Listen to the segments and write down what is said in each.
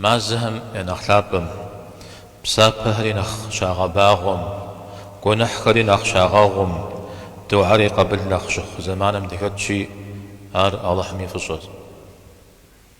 Мазэхэм я нэхъ лъапӏэм, псапэхэри нэхъ щагъэбагъуэм, гуэныхьхэри нэхъ щагъэгъум, духьэр и къабыл нэхъ щыхъу зэманым дыхэтщи, ар Алыхьым и фӏыщӏэщ.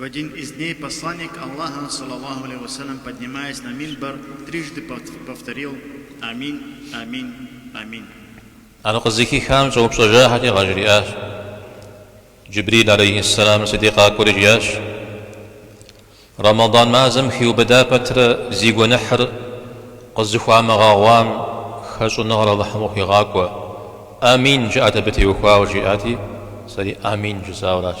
В один из дней Посланник Аллаха, салаллаху алейхи ва саллям, поднимаясь на минбар, трижды повторил, Амин, амин, амин. Ар къызыхихам щӏэупщӏэжахэти къажриӏащ, Джибрил алейхи сэлам си дей къакӏуэри жиӏащ, Рэмэдан мазэм хиубыда пэтрэ зи гуэныхьыр къызыхуамыгъэгъуам хэщӏыныгъэр Алыхьым къыхуигъакӏуэ, Амин жыӏэт абы теухуауэ жиӏати, сэри Амин жысӏауэращ.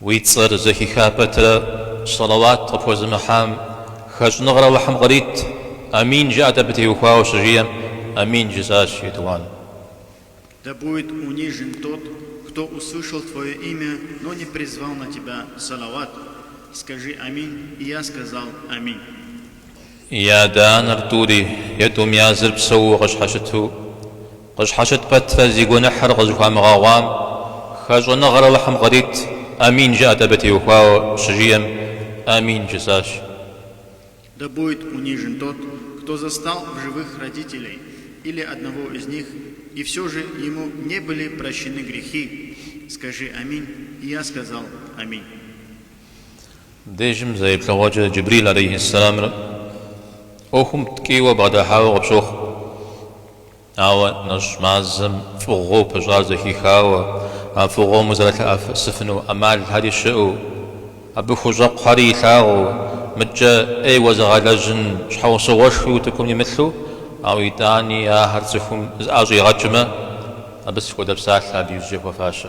Уи цӏэр зэхиха пэтрэ сэлэуат къыпхуэзымыхьам хэщӏыныгъэр Алыхьым кърит, амин жыӏэт абы теухуауэ щыжиӏэм, амин жысӏащ етӏуан. Да будет унижен тот, кто услышал твое имя, но не призвал на тебя салават, скажи амин, и я сказал, амин. И адэ анэр тӏури е тӏум языр псэууэ къыщхьэщыту, къыщхьэщыт пэтрэ зи гуэныхьыр къызыхуамыгъэгъуам, хэщӏыныгъэр Алыхьым кърит, амин жыӏэт абы теухуауэ щыжиӏэм амин жысӏащ. Да будет унижен тот, кто застал в живых родителей или одного из них, и все же ему не были прощены грехи, скажи аминь, и я сказал аминь. Дежым зэ еплъыгъуэкӏэ, Джибрил алейхи сэламыр ӏуэхум ткӏийуэ бгъэдыхьауэ къыпщохъу, ауэ нэщӏ мазэм фӏыгъуэу пыщӏар зэхихауэ, а фӏыгъуэм узэрылъэӏэсыфыну ӏэмалхэри щыӏэу, абы хущӏэкъухэри илъагъуу, мыдкӏэ ӏейуэ зыгъэлэжьын щхьэусыгъуэшхуи утыкум имылъу, ауэ итӏани ахэр цӏыхум зыӏэщӏигъэкӏмэ, абы сыт хуэдэ псалъэ абы иужькӏэ хуэфащэ.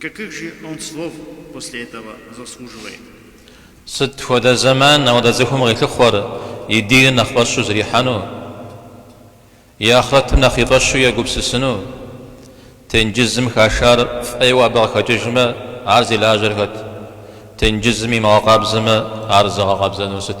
Какых же он слов после этого заслуживает? Сыт хуэдэ зэман апхуэдэ цӏыхум къилъыхъуэр и диныр нэхъ фӏэщу зэрихьэну, и ахърэтым нэхъ и фӏэщу егупсысыну? Тенджызым хашар фӏейуэ абы къыхэкӏыжмэ, ар зи лажьэр хэт? Тенджызым имыгъэкъабзэмэ, ар зыгъэкъабзэнур сыт?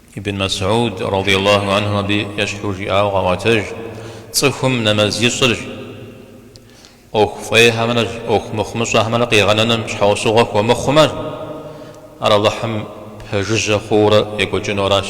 Ибн Мэсьуд, радий Аллаху анху, абы ещхьу жиӏауэ къаӏуэтэж, Цӏыхум нэмэз ищӏыр ӏуэху фӏейхэмрэ ӏуэху мыхъумыщӏэхэмрэ къигъэнэным щхьэусыгъуэ хуэмыхъумэ, ар Алыхьым пэжыжьэ хъуурэ екӏуэкӏынуэращ.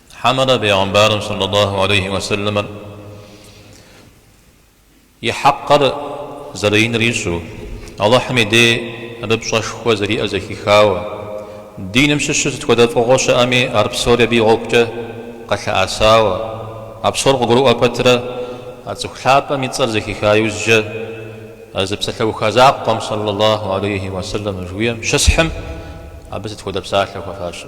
Хьэмэрэ бегъымбарым сэллалаху алейхи уэ сэлэмыр и хьэкъыр зэрыиныр ищӏэу, Алыхьым и дей абы пщӏэшхуэ зэриӏэр зэхихауэ, диным щыщу сыт хуэдэ фӏыгъуэ щыӏэми ар псори абы и гъуэгукӏэ къэлъыӏэсауэ, а псор къыгурыӏуэ пэтрэ, а цӏыху лъапӏэм и цӏэр зэхиха иужькӏэ а зы псалъэуха закъуэм сэллалаху алейхи уэ сэлэмыр жиӏэным щысхьым абы сыт хуэдэ псалъэ хуэфащэ?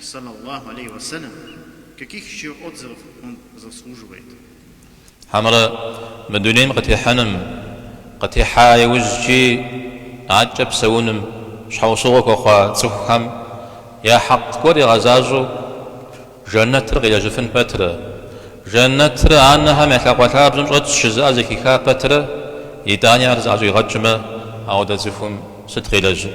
Салаллаху алейхи ва салям, каких еще отзывов он заслуживает? Хьэмэрэ мы дунейм къытехьэным, къытехьа иужькӏи адэкӏэ псэуным щхьэусыгъуэ хуэхъуа цӏыхухэм я хьэкъ гуэр игъэзащӏэу Жэнэтыр къилэжьыфын пэтрэ, Жэнэтыр анэхэм я лъакъуэ лъабжьэм щӏэтщ жызыӏэ зэхиха пэтрэ, итӏани ар зыӏэщӏигъэкӏмэ, ауэдэ цӏыхум сыт къилэжьыр?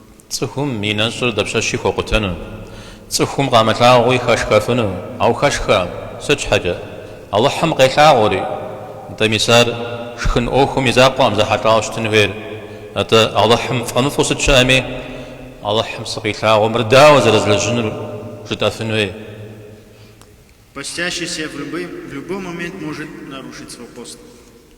Цӏыхум и нэщӏыр дапщэщи хуэкъутэну? Цӏыхум къамылъагъууи хэшхэфыну? Ауэ хэшхэкъым! Сыт щхьэкӏэ? Алыхьым къелъагъури! Нтӏэ, мис ар шхын ӏуэхум и закъуэкъым зэхьэлӏауэ щытын хуейр. Атӏэ, Алыхьым фӏэмыфӏу сыт щыӏэми, Алыхьым сыкъилъагъуу, мыр дауэ зэрызлэжьынур жытӏэфын хуей? Постящийся в любой момент может нарушить свой пост.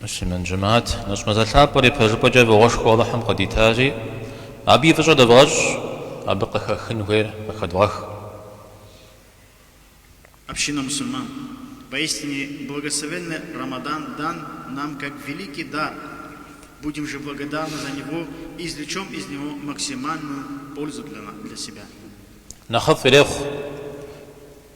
Муслъымэн жэмаат нэщӏ мазэ лъапӏэр ипэжыпӏэкӏэ фӏыгъуэшхуэу Алыхьым къыдитащи, абы и фӏыщӏэ дывгъэщӏ, абы къыхэхын хуейр къыхэдывгъэх. Община мусульман поистине благословенный Рамадан дан нам как великий дар, будем же благодарны за него и извлечем из него максимальную пользу для себя. Нэхъыфӏ ирехъу.